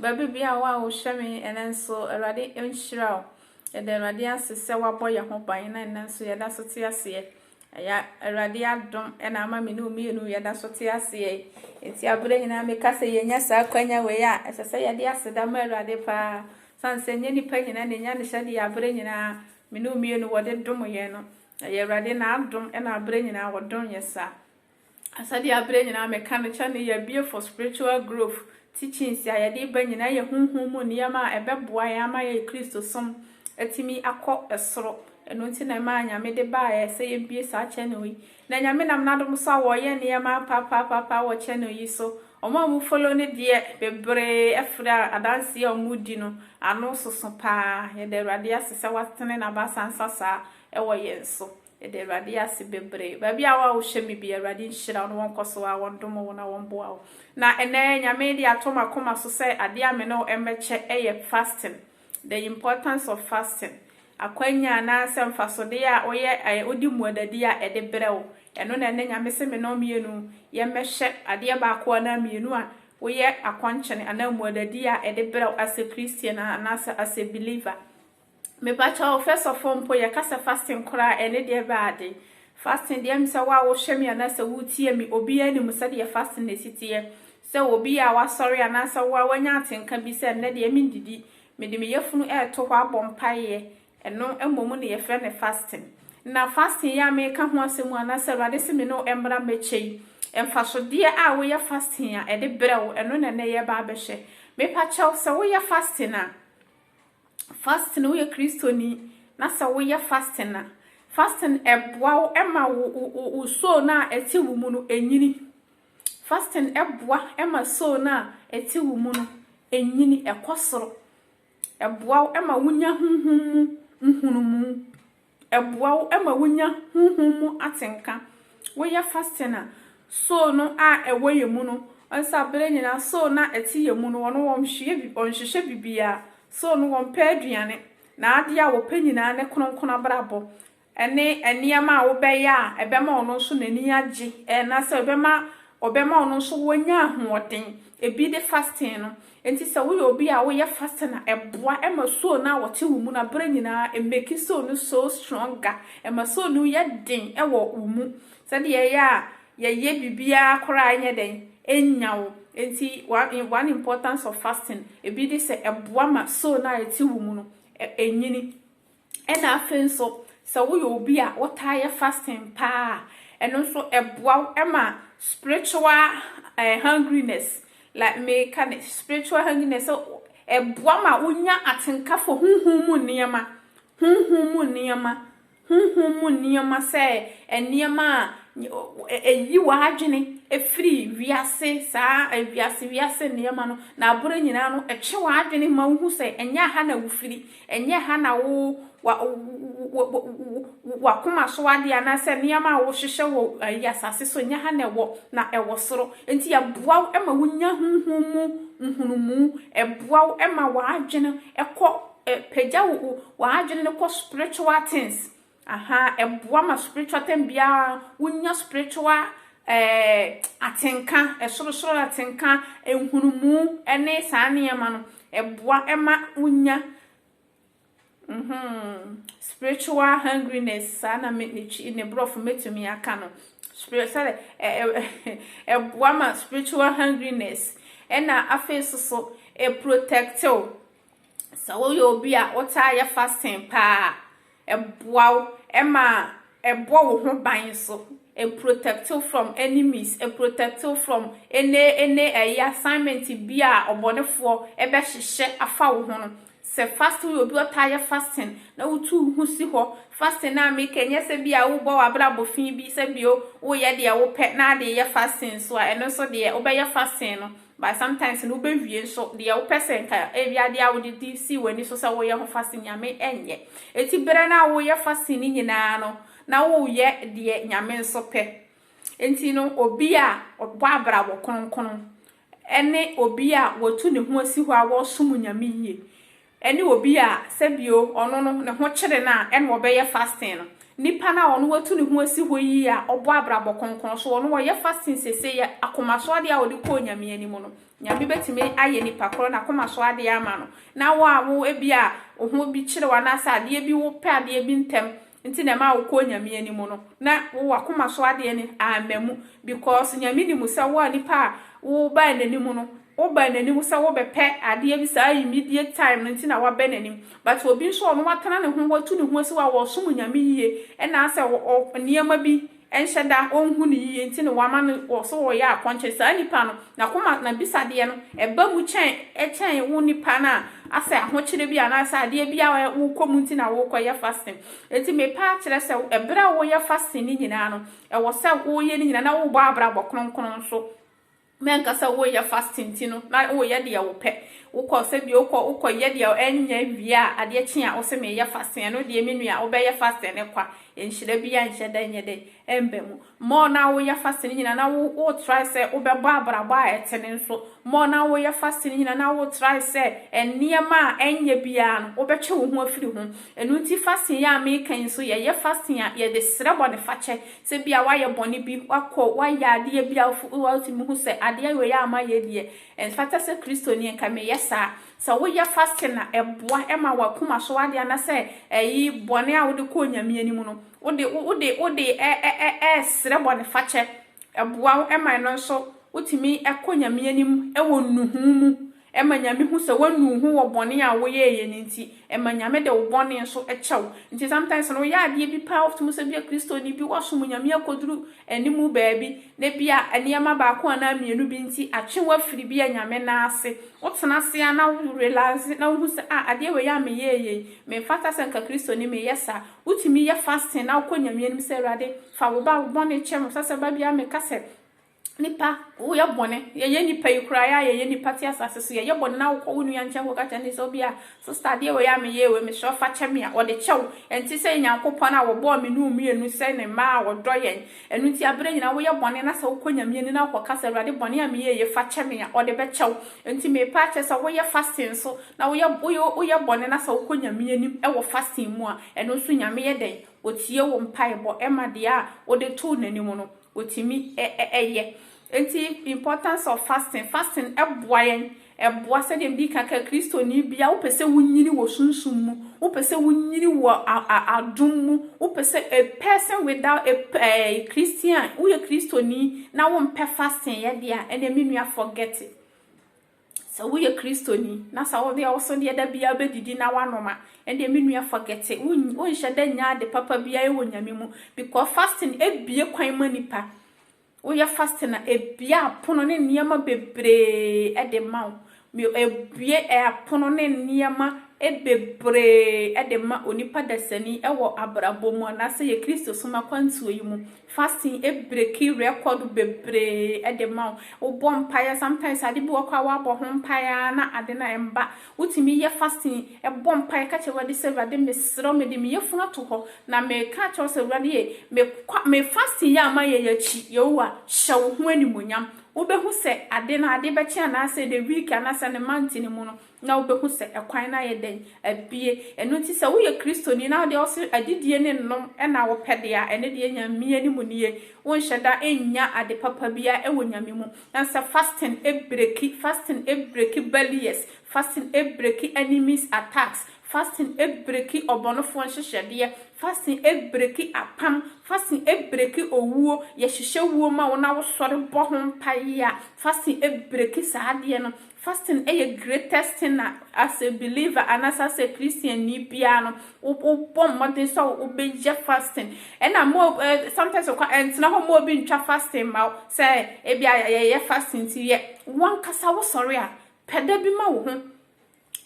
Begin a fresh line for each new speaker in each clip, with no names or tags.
Baabi biara a wohwɛ me ɛnɛ nso, Awurade nhyira wo. Yɛda Awurade ase sɛ wabɔ yɛn ho ban na ɛnɛ nso yɛda so te aseɛ. Ɛyɛ Awurade adom na ama me ne wo mmienu yɛda so te aseɛ yi. Enti aberɛ nyinaa meka sɛ yɛnya saa akwanya wei a, ɛsɛ sɛ yɛde aseda ma Awurade paa. Sane sɛ nyɛ nipa nyinaa na ɛnya ne hyɛ deɛ aberɛ nyinaa me ne wo mmienu wɔde dom yɛn no. Ɛyɛ Awurade n'adom na aberɛ nyinaa wɔdom yɛ saa. Asɛdeɛ aberɛ nyinaa meka no kyɛ no, yɛabue for spiritual growth teachings a yɛde ba nyinaa yɛ honhom mu nneɛma a ɛbɛboa yɛn ama yɛn Kristosom atumi akɔ soro. Ɛno nti na ɛmaa Nyame de baeɛ sɛ yɛbue saa channel yi. Na Nyame nam n'adom so a wɔreyɛ nneɛma apaapaapaa wɔ channel yi so. Wɔn a wɔn follow no deɛ bebree ɛfiri a adanseɛ a wɔn di no ano soso paa. Yɛda Awurade ase sɛ watene n'abasa nsa saa ɛwɔ yɛn so. Yɛda Awurade ase bebree. Baabi a wo a wohwɛ me bi, Awurade nhyira wo na wɔnkɔ so a wɔndom wo na wɔmboa wo. Na ɛnɛ, Nyame de ato m'akoma so sɛ adeɛ a me ne wo mbɛkyɛ yɛ fasting. The importance of fasting. Akwanya anaa sɛ mfasodeɛ a woyɛ ɛɛ wode mmuadadi a ɛde brɛ wo. Ɛno na ɛnɛ Nyame se me ne wo mmienu yɛmmɛhwɛ adeɛ baako anaa mmienu a woyɛ akɔnkyene anaa mmuadadi a ɛde brɛ wo as a Christian anaa sɛ as a believer. Me ba kyɛw first of all mpo yɛ ka sɛ fasting koraa ɛne deɛ bɛ ade fasting deɛ me sɛ wo a wo hwɛ me anaa sɛ wo tie me obiara nim sɛ deɛ fasting na esi teɛ sɛ obi a wa sɔre anaa sɛ wo a wa nya atenka bi sɛ nnɛ deɛ me ndidi me de me yɛ funu ɛɛto hɔ abɔ mpa yɛ ɛno mmɔ mu ne yɛ fɛ ne fasting na fasting yɛ a me ka ho asɛ mu anaa sɛ awurade se me ne ɛmbra mɛkyɛ yi ɛmfa so deɛ a wo yɛ fasting a ɛde brɛ wo ɛno na ɛnɛ yɛ ba abɛhwɛ me pa kyɛw sɛ wo yɛ fasting a Fasting no, woyɛ Kristoni na sɛ woyɛ fasting a, fasting ɛboa wo ma wo soul no a ɛte wo mu no ɛnyini. Fasting ɛboa ma soul no a ɛte wo mu no ɛnyini, ɛkɔ soro. Ɛboa wo ma wonya honhom mu nhunumu. Ɛboa wo ma wunya honhom mu atenka. Woyɛ fasting a, soul no a ɛwɔ yɛn mu no, wahu sɛ bere nyinaa soul no a ɛte yɛn mu no, ɔno ɔnhwehwɛ bi, ɔnhwehwɛ biribiara. Soul no ɔmpɛ aduane. N'adeɛ a ɔpɛ nyinaa ne kronkron abrabɔ ne nneɛma a wobɛyɛ a ɛbɛma ɔno nso n'ani agye, anaasɛ ɛbɛma ɔbɛma ɔno nso wanya ahoɔden. Ebi ne fasting no, Enti sɛ woyɛ obi a woyɛ fasting a, ɛboa ma soul no a wɔte wo mu no bere nyinaa emake soul no so stronger, ɛma soul no yɛ den wɔ wo mu sɛdeɛ ɛyɛ a yɛyɛ biribiara koraa a ɛnyɛ dɛn, ɛnnya wo. Enti one one importance of fasting ebi ne sɛ ɛboa ma soul no a ɛte wo mu no ɛnyini. Ɛna afei nso sɛ woyɛ obi a wotaa yɛ fasting paa a, ɛno nso ɛboa wo ma spiritual hungriness, like meka no spiritual hungriness sɛ ɛboa ma wonya atenka for honhom mu nneɛma, honhom mu nneɛma, honhom mu nneɛma sɛ nneɛma a ɛyi w'adwene ɛfiri wiase saa wiase wiase nneɛma no na aboro nyinaa no ɛtwe w'adwene ma wohu sɛ ɛnyɛ aha na wofiri, Ɛnyɛ ha na wo w'akoma so adeɛ anaasɛ nneɛma a wohwehwɛ wɔ ɛyi asase so, ɛnyɛ ha na ɛwɔ, na ɛwɔ soro. Enti ɛboa wo ma wonya honhom mu nhunumu, ɛboa wo ma w'adwene kɔ, ɛpagya wo w'adwene no kɔ spiritual things, Ahaa ɛboa ma spiritual time biara wo nya spiritual eh atenka ɛsoro soro atenka nhunumu ɛne saa nneɛma no ɛboa ɛma wo nya mm-hmm spiritual hungriness saa na me ne twi ne borɔfo mɛtumi aka no spirit sɛde ɛ ɛ ɛboa ma spiritual hungriness ɛna afei so so ɛprotectew sɛ woyɛ obi a wotaa yɛ fasting paa Ɛboa wo ma ɛbɔ wo ho ban nso. Ɛ protect wo from enemies, ɛ protect wo from any any ɛyi assignment bi a ɔbɔnefoɔ bɛhyehyɛ afa wo ho no. Sɛ fasting woyɛ obi ɔtaa yɛ fasting na wotu wo ho si hɔ, fasting no a meka nyɛ sɛ bi a wobɔ w'abrabɔ fi bi sɛ bi o woyɛ deɛ wopɛ na ade yɛ fasting nso a ɛno nso deɛ wobɛyɛ fasting no But sometimes no wobɛwie nso deɛ wopɛ sɛ nka ebi adeɛ a wode di sii w'ani so sɛ woyɛ ho fasting Nyame ɛnyɛ. Eti berɛ no a woyɛ fasting no nyinaa no na woyɛ deɛ Nyame nso pɛ. Enti no obi a ɔbɔ abrabɔ kronkron ɛne obi a watu ne ho asi hɔ a ɔresom Nyame yie. ɛne obi a sɛ bio ɔno no ne ho kyere no a ɛna ɔbɛyɛ fasting no, nipa no a ɔno watu ne ho asi hɔ yi a ɔbɔ abrabɔ kronkron so ɔno ɔyɛ fasting sesei yɛ akoma so adeɛ a ɔde kɔ Onyame anim no Nyame bɛtumi ayɛ nipa korɔ no akoma so adeɛ ama no na wo a wo ebia wo ho bi kyere wo anaasɛ adeɛ bi wo pɛ adeɛ bi ntɛm Nti na ɛma wo kɔ Nyame anim no na wo wakoma so adeɛ no amma mu because Nyame nim sɛ wo a nipa a wo baa nanim no wo baa nanim sɛ wo bɛpɛ adeɛ bi saa immediate time no nti na wabɛ nanim but obi nso ɔno watena ne ho watu ne ho asi hɔ a ɔsom Nyame yie ɛna sɛ ɔ nneɛma bi ɛnhyɛ da, ɔnhu no yiye nti na wama no wɔ so ɔyɛ akɔnkyere, saa nipa no n'akoma n'abisadeɛ no ɛba mu kyɛn kyɛn wo nipa no a asɛ ahokyere bi anaasɛ adeɛ bi a wokɔ mu nti na wokɔ yɛ fasting nti mepa akyerɛ sɛ ɛberɛ a woyɛ fasting no nyinaa no ɛwɔ sɛ woyɛ no nyinaa na wobɔ abrabɔ kronkron so. na nka sɛ woreyɛ fasting ti no na woreyɛ deɛ wopɛ, wokɔ sɛdeɛ wokɔ wokɔyɛ deɛ ɛnyɛ wie a adeɛ kye a wose mereyɛ fasting, ɛno deɛ me nua wobɛyɛ fasting no kwa, nhyira biara nhyɛ da nyɛ dɛn ɛmba mu. More na woreyɛ fasting no nyinaa na wo wo try sɛ wobɛbɔ abrabɔ a ɛtene nso, more na woreyɛ fasting no nyinaa na wo try sɛ nneɛma a ɛnyɛ biara no wobɛtwe wo ho afiri ho. Ɛno nti fasting yi a mereka yi nso yɛyɛ fasting a yɛde srɛ bɔnefakyɛ, Sɛ ebia woayɛ bɔne bi, woakɔ, woayɛ adeɛ bi a wotumi hu sɛ adeɛ wei a mayɛ deɛ, ɛmfata sɛ Kristoni nka meyɛ saa. Sɛ woyɛ fasting a, ɛboa ma w'akoma so adeɛ anaasɛ ɛyi bɔne a wode kɔ Onyame anim no, wode wode wode ɛresrɛ bɔnefakyɛ. Ɛboa wo ma ɛno nso wotumi kɔ Nyame anim wɔ nnuhuu mu. Ɛma Nyame hu sɛ wanu wo ho wɔ bɔne a woyɛeɛ no nti. Ɛma Nyame de wo bɔne nso kyɛ wo. Nti sometimes no woyɛ adeɛ bi paa, wofiti mu sɛ bia Kristoni bi wasom Nyame akɔduru animu baabi, na bia nneɛma baako anaa mmienu bi nti atwe wo afiri bia Nyame nan ase. Wotena ase ara na wo relase na wohu sɛ ah adeɛ wei a meyɛeɛ yi, memfata sɛ nka Kristoni meyɛ saa. Wotumi yɛ fasting na wokɔ Nyame anim sɛ Awurade fa wo ba wo bɔne kyɛ me. Ɔsɛ sɛ ba biara meka sɛ Nnipa, woyɛ bɔne. Yɛyɛ nnipa yi koraa, yɛ a yɛyɛ nnipa te asase so. Yɛyɛ bɔne na wokɔ wo nua nkyɛn kɔka kyerɛ no sɛ, obi a, sista adeɛ wei a meyɛɛ wei, mesrɛ wo fa kyɛ me a, ɔde kyɛ wo. Ɛnte sɛ Nyankopɔn a ɔbɔɔ me ne wo mmienu sɛ ne mma a ɔdɔ yɛn. Ɛno nti aberɛ nyinaa woyɛ bɔne na sɛ wokɔ Nyame anim na wokɔka sɛ, Awurade bɔne a meyɛɛ yei fa kyɛ me a, ɔde bɛkyɛ wo. Nti meepa akyɛ sɛ woyɛ fasting nso na woyɛ woyɛ woyɛ bɔne na sɛ wokɔ Nyame anim wɔ fasting mu a, ɛno nso Nyame yɛ dɛn? Ɔtie wo mpaebɔ ma deɛ a wode too n'anim no. Wɔtumi yɛ. Nti importance of fasting, fasting boa yɛn, ɛboa sɛdeɛ medi kan kae Kristoni biara wopɛ sɛ wonyini wɔ sunsum mu, wopɛ sɛ wonyini wɔ adom mu, wopɛ sɛ a person without a ɛɛ Christian, woyɛ Kristoni na wompɛ fasting yɛ deɛ a, ɛnneɛ me nua forget it. Sɛ woyɛ Kristoni na sɛ wode awosɔdeɛ da biara bɛdidi na woanom a, ɛndeɛ me nua forget it. Wonhyɛ da nya ade papa biara wɔ Nyame mu because fasting ebie kwan ma nipa. Woyɛ fasting a, ebie apono ne nneɛma bebree de ma wo. Ebie apono ne nneɛma bebree de ma onipa dasani wɔ abrabɔ mu anaasɛ yɛ Kristosom akwantuo yi mu. Fasting breki record bebree de ma wo. Wobɔ mpaeɛ, sometimes ade bi wɔ hɔ koraa woabɔ ho mpaeɛ ara na ade no mma. Wotumi yɛ fasting, bɔ mpaeɛ ka kyerɛ Awurade sɛ, Awurade mesrɛ wo mede me yafunu ato hɔ na meka akyerɛ wo sɛ Awurade ei, mekɔ me fasting yi a mayɛ yi akyi, Yehowa hyɛ wo ho animuonyam. Wobɛhu sɛ ade no ade bɛkye anaasɛ the week anaasɛ ne month no mu no, na wobɛhu sɛ ɛkwan no ayɛ dɛn? Abue. Ɛno nti sɛ woyɛ Kristoni na wodeɛ wose adidie ne nnom na wopɛ deɛ a, ɛno deɛ Nyame anim nie. Wonhyɛ da nnya ade papa biara wɔ Nyame mu. Na sɛ fasting breki, fasting breki barriers, fasting breki enemies attacks, fasting breki ɔbɔnefoɔ nhyehyɛdeɛ, fasting breki apam, fasting breki owuo, yɛhyehyɛ wuo ma wo na wosɔre bɔ ho mpaeɛ a, fasting breki saa adeɛ no. Fasting yɛ greatest thing a as a believer anaasɛ as a Christiannii biara no wo wobɔ mmɔden sɛ wo wobɛyɛ fasting. Ɛna mo eh, sometimes okwa ɛntena hɔ ma obi ntwa fasting ma wo sɛ ebi a yɛyɛ fasting nti yɛ. Wankasa wo sɔre a pɛ da bi ma wo ho.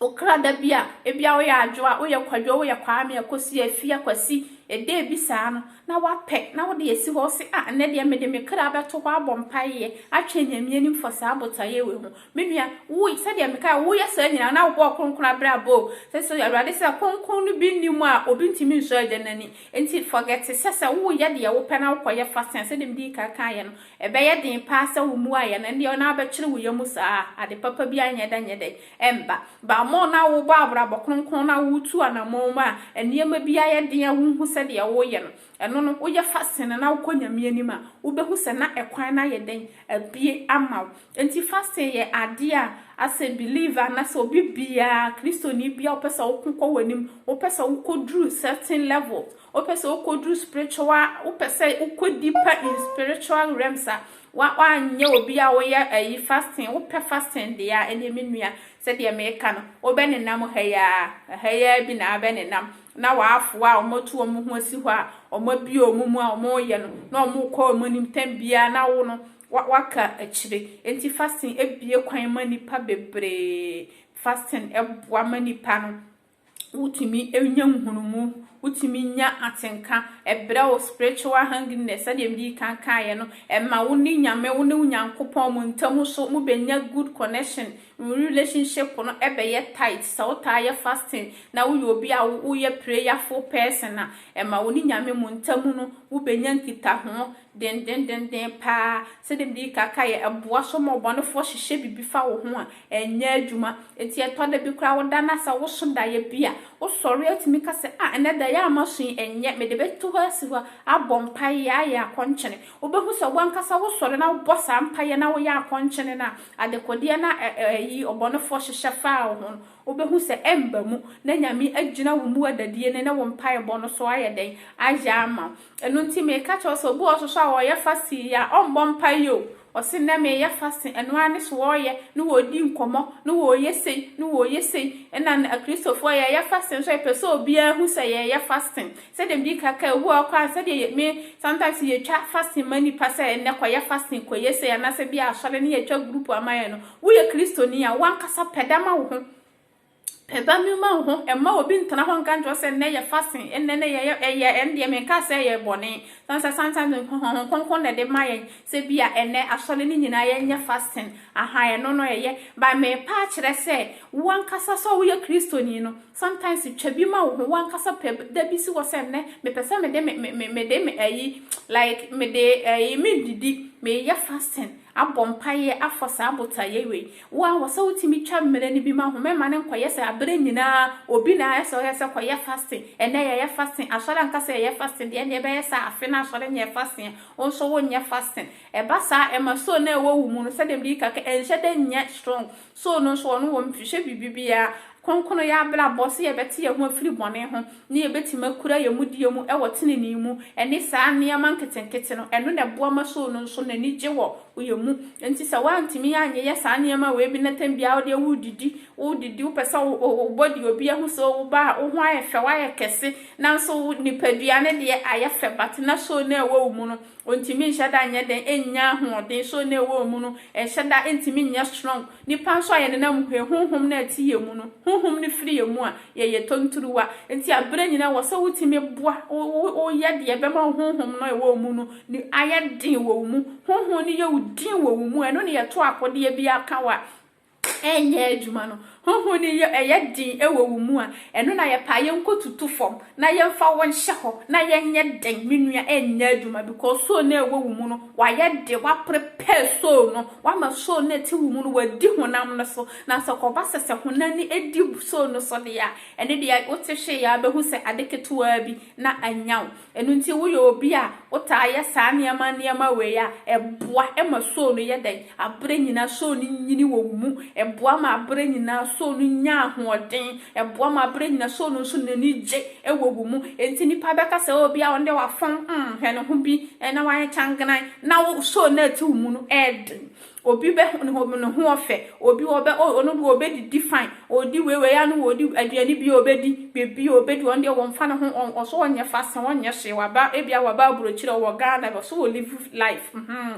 Okra da bi a ebi a woyɛ adwo a woyɛ kwadwo woyɛ kwame akosi afi akwasi ɛda ebi saa no na wapɛ na wode asi hɔ se, Ah, nnɛ deɛ mede me kra bɛto hɔ abɔ mpaeɛ atwɛn Nyame anim for saa botaeɛ wei ho. Me nua, wo, sɛdeɛ mekaeɛ, woyɛ saa nyinaa na wobɔɔ kronkron abrabɔ o, sɛ sɛ Awurade sɛ kronkron no bi nni mu a obi ntumi nsɔ Agya no ani. Enti fɔgɛte sɛ sɛ woreyɛ deɛ wopɛ na wokɔyɛ fa sɛn, sɛdeɛ medii kan kaeɛ no, ɛbɛyɛ den paa sɛ wommuaeɛ no, ɛndeɛ na wobɛkyere wo yam saa a, ade papa biara nyɛ dɛ nyɛ dɛn. ɛmba. Bammɔ na wobɔ abrabɔ kronkron na wotu anamɔn mu a, nneɛma bi ayɛ den a wonhu sɛ deɛ woreyɛ no, ɛno no, woyɛ fasting na wokɔ Nyame anim a, wobɛhu sɛ na ɛkwan no ayɛ dɛn? Abue ama wo. Enti fasting yɛ adeɛ a asɛ believer anasɛ obi biara, Kristoni biara, wopɛ sɛ woko kɔ w'anim, wopɛ sɛ wokɔduru certain levels, wopɛ sɛ wokɔduru spiritual, wopɛ sɛ wokɔ deeper in spiritual realms a, Wa wanyɛ obi a woyɛ ɛyi fasting wopɛ fasting deɛ a ɛneɛ me nua sɛdeɛ meka no wobɛ nenam ha yi ara ɛha yi ara bi na abɛ nenam na w'afoa a wɔatu wɔn ho asi hɔ a wɔn abie wɔn mu a wɔn yɛ no na wɔn kɔ wɔn anim tɛm biara na wo no wa waka akyire enti fasting ebie kwan ma nipa bebree fasting ɛboa ma nipa no wotumi nya nhunumu, wotumi nya atenka, ɛbrɛ wo spiritual hungriness, sɛdeɛ mede kan kaeɛ no, ɛma wo ne Nyame, wo ne wo Nyankopɔn mo ntam so, mo bɛnya good connection, mo relationship no ɛbɛyɛ tight, sɛ wotaa yɛ fasting, na woyɛ obi a woyɛ prayerful person a, ɛma wo ne Nyame mo ntam no, wobɛnya nkitaho, Dendendendenn paa, sɛdeɛ mede reka ka yɛ, ɛboa so ma ɔbɔnefoɔ hyehyɛ biribi fa wo ho a, ɛnyɛ adwuma. Enti ɛtɔ da bi koraa woda no asa, woso daeɛ bi a, wosɔre a wotumi ka sɛ, ah, ɛnnɛ daeɛ a maso yi, ɛnyɛ, mede bɛto hɔ asi hɔ abɔ mpaeɛ, ayɛ akɔnkyene. Wobɛhu sɛ w'ankasa wosɔre na wobɔ saa mpaeɛ na woyɛ akɔnkyene no a, adekodeɛ no a ɛyi ɔbɔnefoɔ hyehyɛ faa wo ho no, wobɛhu sɛ ɛmba mu, na Nyame agyina wo mu adadie no ne wo mpaebɔ no so ayɛ dɛn? Ayɛ ama wo. Ɛno nti meeka kyerɛ wo sɛ, obi wɔ hɔ soso a ɔɔyɛ fasting yi a, ɔmbɔ mpaeɛ o, ɔse nnɛ meeyɛ fasting, ɛno ara ne so ɔɔyɛ, ne wɔɔdi nkɔmmɔ, ne wɔɔyɛ sei, ne wɔɔyɛ sei, nna no akristofoɔ yɛɛyɛ fasting nso a, yɛpɛ sɛ obiara hu sɛ yɛɛyɛ fasting, sɛdeɛ medi ka kae, obi wɔ hɔ koraa a, sɛdeɛ yɛ, me, sometimes yɛtwa fasting ma nnipa sɛ nnɛ kɔyɛ fasting, kɔyɛ sei, anaasɛ bi a asɔre ne yɛtwa group ama yɛn no, woyɛ kristoni a, wankasa pɛ dama wo ho. Ɛda nnwuma ho, mma obi ntena hɔ nka nkyerɛ wo sɛ nnɛ yɛ fasting, nnɛ ne yɛyɛ ɛyɛ, ɛno deɛ menkaa sɛ ɛyɛ bɔne. Ɛsiane sɛ sometimes Honhom Kronkron na ɛde ma yɛn sɛ bi a ɛnnɛ asɔre no nyinaa yɛnyɛ fasting, aha, ɛno no ɛyɛ. But merepa akyerɛ sɛ wo ankasa sɛ woyɛ Kristoni no, sometimes twa bi ma wo ho, wo ankasa pɛ da bi si hɔ sɛ nnɛ mepɛ sɛ mede me, me, mede me ayi, like mede ɛyi, merennidi, mereyɛ fasting, abɔ mpaeɛ, afɔ saa botaeɛ wei. Wo ara wɔ sɛ wotumi twa mmerɛ no bi ma ho. Mɛma no nkɔyɛ sɛ aberɛ nyinaa obi na ayɛ sɛ ɔyɛ sɛ kɔyɛ fasting. Ɛnnɛ yɛyɛ fasting. Asɔre anka sɛ yɛyɛ fasting deɛ, ɛnneɛ ɛbɛyɛ sɛ afe no asɔre nyɛɛ fasting a, wo nso wonyɛ fasting. Ɛba saa a, ɛma soul no a ɛwɔ wo mu no, sɛdeɛ mede ka kɛ, ɛnhyɛ da nyɛ strong. Soul no nso, ɔno wɔnhwehwɛ biribi biara Kronkron yɛ abrabɔ, sɛ yɛbɛte yɛn ho afiri bɔne ho na yɛbɛtumi akura yɛn mudie mu wɔ tenenee mu, ɛne saa nneɛma nketenkete no, ɛno na ɛboa ma soo no nso n'ani gye wɔ yɛn mu. Enti sɛ woantumi anyeyɛ saa nneɛma wei bi na tam biara wo deɛ woredidi, wodidi, wopɛ sɛ wo body obi ahu sɛ wo ba a, wo ho ayɛ fɛ, woayɛ kɛse, nanso wo nipadua no deɛ ayɛ fɛ but na soo no ɛwɔ wo mu no, Ontumi nhyɛ da nyɛ dɛn nnya ahoɔden, so na ɛwɔ mu no nhyɛ da ntumi nyɛ strong. Nipa nso a yɛ nenam mu he, honhom no a ɛte yɛ mu no, honhom no firi yɛ mu a, yɛ yɛ tonturuwa. Nti a berɛ nyinaa wɔ sɛ wotumi boa, wo yɛ deɛ ɛbɛma wo honhom no a ɛwɔ wo mu no ayɛ den wɔ wo mu. Honhom no yɛ wo din wɔ wo mu, ɛno ne yɛ to akodeɛ biaa ka wo a, ɛnyɛ adwuma no, honhom no yɛ ɛyɛ den wɔ wo mu a, ɛno na yɛpɛ a yɛnkɔtutu fam na yɛmfa wo nhyɛ hɔ na yɛnyɛ dɛn? Me nua, ɛnyɛ adwuma because soul no a ɛwɔ wo mu no, wayɛ den, woaprepare soul no, woama soul no a ɛte wo mu no, wadi honam no so. Na sɛ kɔba sɛ sɛ honam no di soul no so deɛ a, ɛno deɛ wote hwee a bɛhu sɛ ade ketewaa bi na anya wo. Ɛno nti, woyɛ obi a wotaa yɛ saa nneɛma nneɛma wei a, ɛboa ma soo no yɛ dɛn? Aberɛ nyinaa soo no nyini wɔ wo mu. Ɛboa ma aberɛ nyinaa soo no nya ahoɔden. Ɛboa ma aberɛ nyinaa soo no nso n'ani gye wɔ wo mu. Enti nnipa bɛka sɛ, oh, bia ɔno deɛ wafɔn, mm, hwɛ ne ho bi, na wayɛ kyangenan, na wo soo no a ɛte wo mu no yɛ den. Obi bɛ ho ne ho ne ho ɔfɛ, obi ɔbɛ oh ɔno deɛ ɔbɛdidi fine, ɔdi wei wei a no ɔdi aduane bi a ɔbɛdi, biribi a ɔbɛdi, ɔno deɛ wɔmfa ne ho ɔn ɔso ɔnyɛ fasting ɔnyɛ hwee, waba ebia waba aburokyire ɔwɔ Ghana ɔso ɔlive life hmm